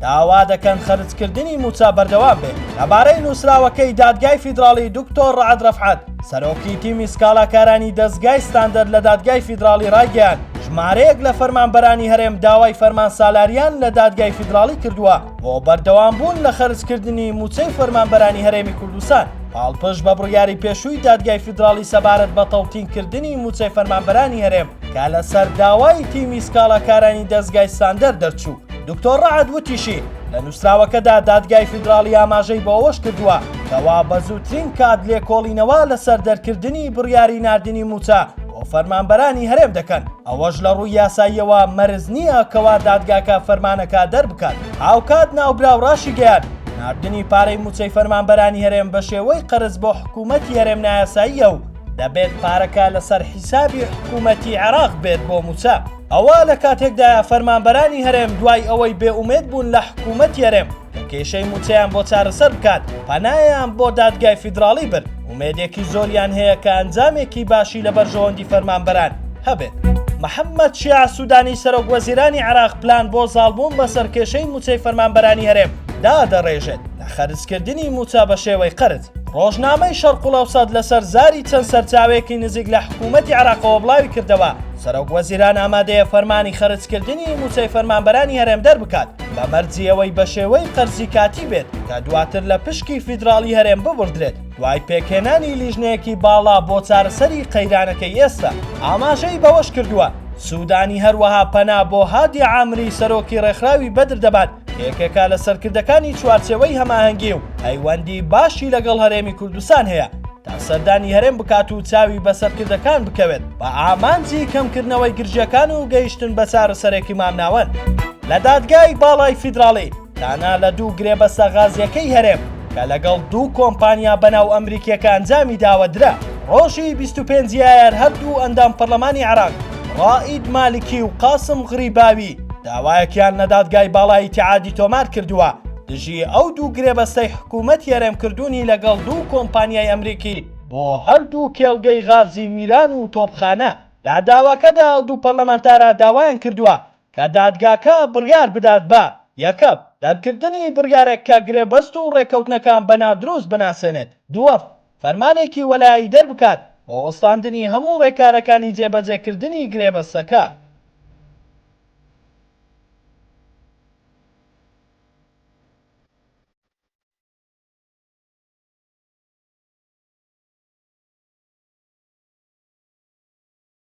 داوا دەکەن خەرجکردنی مووچە بەردەوام بێت. لەبارەی نووسراوەکەی دادگای فیدراڵی دکتۆر ڕەعد ڕەفعەت، سەرۆکی تیمی سکاڵاکارانی دەزگای ستاندەر لە دادگای فیدراڵی ڕایگەیاند، ژمارەیەک لە فەرمانبەرانی هەرێم داوای فەرمان سالاریان لە دادگای فیدراڵی کردووە بۆ بەردەوامبوون لە خەرجکردنی مووچەی فەرمانبەرانی هەرێمی کوردستان، پاڵپشت بە بڕیاری پێشووی دادگای فیدراڵی سەبارەت بە تەوتینکردنی مووچەی فەرمانبەرانی هەرێم. کە لەسەر داوای تیمی سکاڵاکارانی دەستگای ساندەر دەرچوو دکتۆر ڕعد وتیشی لە نووسراوەکەدا دادگای فیدراڵی ئاماژەی بۆ ئەوەش کردووە کەوا بە زووترین کات لێکۆڵینەوە لەسەر دەرکردنی بڕیاری نردنی موچە بۆ فەرمانبەرانی هەرێم دەکەن ئەوەش لە ڕووی یاساییەوە مەرز نییە کەوا دادگاکە فەرمانەکە دەربکات هاوکات ناوبراو ڕاشی گەیان نردنی پارەی موچەی فەرمانبەرانی هەرێم بە شێوەی قەرز بۆ حکوومەتی هەرێم نایاساییە و دەبێت پارەکە لەسەر حیسابی حکوومەتی عێراق بێت بۆ مووچە ئەوە لە کاتێکدایە فەرمانبەرانی هەرێم دوای ئەوەی بێ ئومێد بوون لە حکوومەت یەرێم کە کێشەی مووچەیان بۆ چارەسەر بکات پەنایان بۆ دادگای فیدراڵی برد ئومێدێکی زۆریان هەیە کە ئەنجامێکی باشی لە بەرژەوەندی فەرمانبەران هەبێت. محەممەد شیاع سوودانی سەرۆک وەزیرانی عێراق پلان بۆ زاڵبوون بەسەر کێشەی مووچەی فەرمانبەرانی هەرێم دادەڕێژێت لە خەرجکردنی مووچە بە شێوەی قەرز. ڕۆژنامەی شەرقڵەوسەت لەسەر زاری چەند سەرچاوەیەکی نزیک لە حکوومەتی عراقەوە بڵاوی کردەوە، سەرۆک وەزیران ئامادەیە فەرمانی خەرجکردنی مووچەی فەرمانبەرانی هەرێم دەربکات، بە مەرجی ئەوەی بە شێوەی قەرزی کاتی بێت کە دواتر لە پشکی فیدراڵی هەرێم ببڕدرێت، دوای پێکهێنانی لیژنەیەکی باڵا بۆ چارەسەری قەیرانەکەی ئێستا. ئاماژەی بەوەشکردووە، سوودانی هەروەها پەنا بۆ هادی عامری سەرۆکی ڕێکخراوی بەدر دەبات، یەکێکە لە سەرکردەکانی چوارچێوەی هەماهەنگی و پەیوەندی باشی لەگەڵ هەرێمی کوردستان هەیە تا سەردانی هەرێم بکات و چاوی بە سەرکردەکان بکەوێت بە ئامانجی کەمکردنەوەی گرژەکان و گەیشتن بە چارەسەرێکی مامناوەند لە دادگای باڵای فیدراڵی تانا لە دوو گرێبەستە غازیەکەی هەرێم کە لەگەڵ دوو کۆمپانیا بەناو ئەمریکیەکە ئەنجامی داوە درا ڕۆژی 25 یایار هەردوو ئەندام پەرلەمانی عێراق ڕائید مالکی و قاسم غریباوی داوایەکیان لە دادگای باڵای ئیتیحادی تۆمار کردووە دژی ئەو دوو گرێبەستەی حکوومەتی هەرێم کردوونی لەگەڵ دوو کۆمپانیای ئەمریکی بۆ هەردوو کێڵگەی غازی میران و تۆپخانە. لە داواکەدا ئەو دوو پەرلەمانتارە داوایان کردووە کە دادگاکە بڕیار بدات بە، یەکەم، دەرکردنی بڕیارێک کە گرێبەست و ڕێککەوتنەکان بە نادروست بناسێنێت، دووەم، فەرمانێکی وەلایی دەربکات بۆ وەستاندنی هەموو ڕێکارەکانی جێبەجێکردنی گرێبەستەکە.